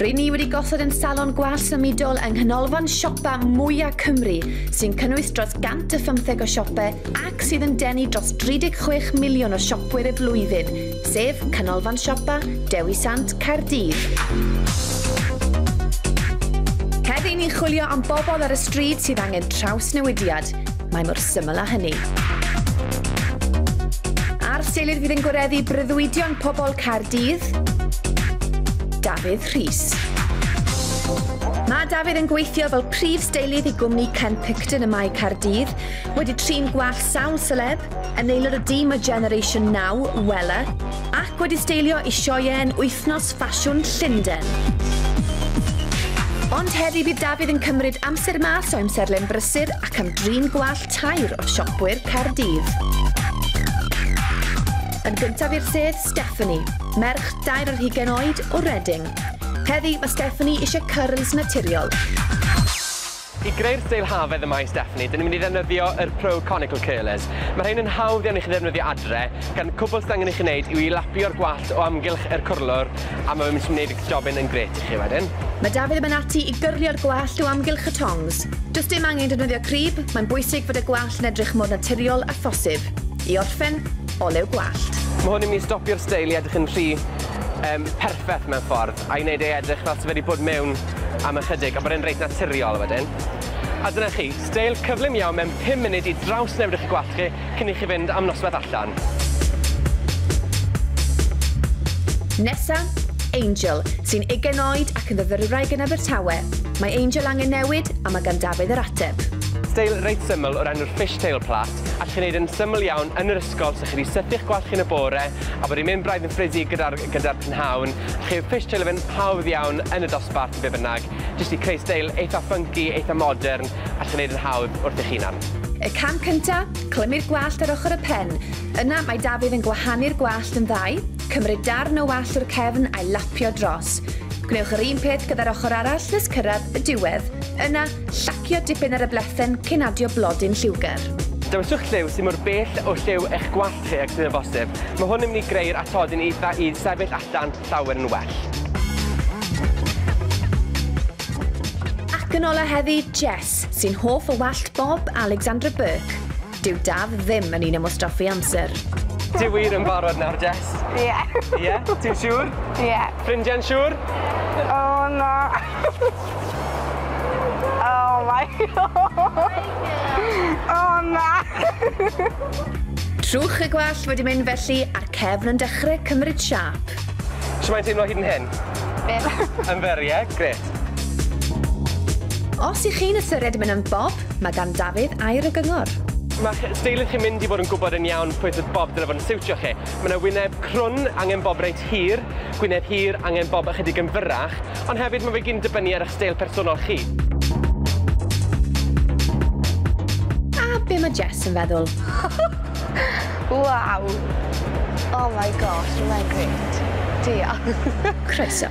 Rydyn ni wedi gosod yn salon gwal symudol yng nghanolfan siopa mwyaf Cymru, sy'n cynnwys dros 150 o siopau ac sydd yn denu dros 36 miliwn o siopwyr y flwyddyn, sef Canolfan Siopa Dewi Sant Caerdydd. Heddiw ni'n chwilio am bobl ar y stryd sydd angen trawsnewidiad, Mae mor syml â hynny. A'r seilydd fydd yn gwareddu breuddwydion pobl Caerdydd, Dafydd Rhys. Mae Dafydd yn gweithio fel prif steilydd i gwmni Ken Picton y Mae Caerdydd, wedi trin gwall sawl celeb, yn aelod o dîm o Generation Now, Wella, ac wedi steilio i sioeau yn wythnos Ffasiwn Llundain. Ond heddi bydd Dafydd yn cymryd amser mas o amserlen brysur ac am drin gwallt tair o siopwyr Caerdydd. Yn gyntaf i'r sedd, Stephanie, merch dair ar hugain oed o Reading. Heddi mae Stephanie eisiau cyrls naturiol. I greu'r steil hafaidd y mae Stephanie, dyn ni'n mynd i ddefnyddio yr Pro Conical Curlers. Mae rhain yn hawdd iawn i chi ddefnyddio adre, gan cwbl sydd angen i chi wneud yw i lapio'r gwallt o amgylch yr cwrlwr a mae fe'n mynd i wneud y jobyn yn grêt i chi wedyn. Mae Dafydd yn mynd ati i gyrlio'r gwallt o amgylch y tongs. Does dim angen defnyddio crib, mae'n bwysig fod y gwallt yn edrych mor naturiol â phosib. I orffen, olew gwallt. Mae hwn yn mynd i stopio'r steil i edrych yn rhy, yym, perffeth mewn ffordd. a'i wneud e edrych fel 'se fe 'di bod mewn am ychydig a bod e'n reit naturiol wedyn. A dyna chi, steil cyflym iawn mewn pum munud i drawsnewid eich gwallt chi cyn i chi fynd am noswaith allan. Nesa, Angel, sy'n ugain oed ac yn fyfyrwraig yn Abertawe. Mae Angel angen newid a mae gan Dafydd yr ateb. Steil reit syml o'r enw'r Fishtail Pla. Allwch chi wneud yn syml iawn yn yr ysgol, so chi 'di sythu'ch gwallt chi yn y bore, a bod 'i'n mynd braidd yn ffredig gyda'r gyda'r prynhawn, a chi yw'r fish tail yn hawdd iawn yn y dosbarth, be bynnag, jyst i creu steil eitha ffynci, eitha modern, allwch chi 'neud yn hawdd wrth eich hunan. Y cam cynta, clymu'r gwallt ar ochr y pen. Yna, mae Dafydd yn gwahanu'r gwallt yn ddau, cymryd darn o wallt o'r cefn a'i lapio dros. Gwnewch yr un peth gyda'r ochr arall nes cyrraedd y diwedd. Yna, Llacio dipyn ar y blethen cyn adio blodyn lliwgar. Dewiswch lliw sydd mor bell o lliw eich gwallt chi ag sydd yn bosib. Mae hwn yn mynd i greu'r atodyn eitha i sefyll allan llawer yn well. Ac yn ola heddi, Jess, sy'n hoff o wallt Bob Alexandra Burke. Dyw Daf ddim yn un am wastraffu amser. Ti wir yn barod nawr, Jess? Ie. Ie? Ti'n siŵr? Ie. Ffrindiau'n siŵr? O, na. O, my God. O, na. Trwch y gwallt wedi mynd felly a'r cefn yn dechrau cymryd siap. Sut mae'n teimlo hyd yn hyn? Byr. Yn fer, ie? Gret. Os i chi'n ystyried mynd yn bob Mae gan Dafydd air y gyngor. Mae'ch steilydd chi'n mynd i fod yn gwybod yn iawn pwy sydd bob dyle fod yn siwtio chi. Mae 'na wyneb crwn, angen bob reit hir, gwyneb hir, angen bob ychydig yn fyrrach, ond hefyd mae fe gyd yn dibynnu ar 'ych steil personol chi. A be mae Jess yn feddwl? Waw! Oh my gosh, mae'n grêt. Diolch. Croeso.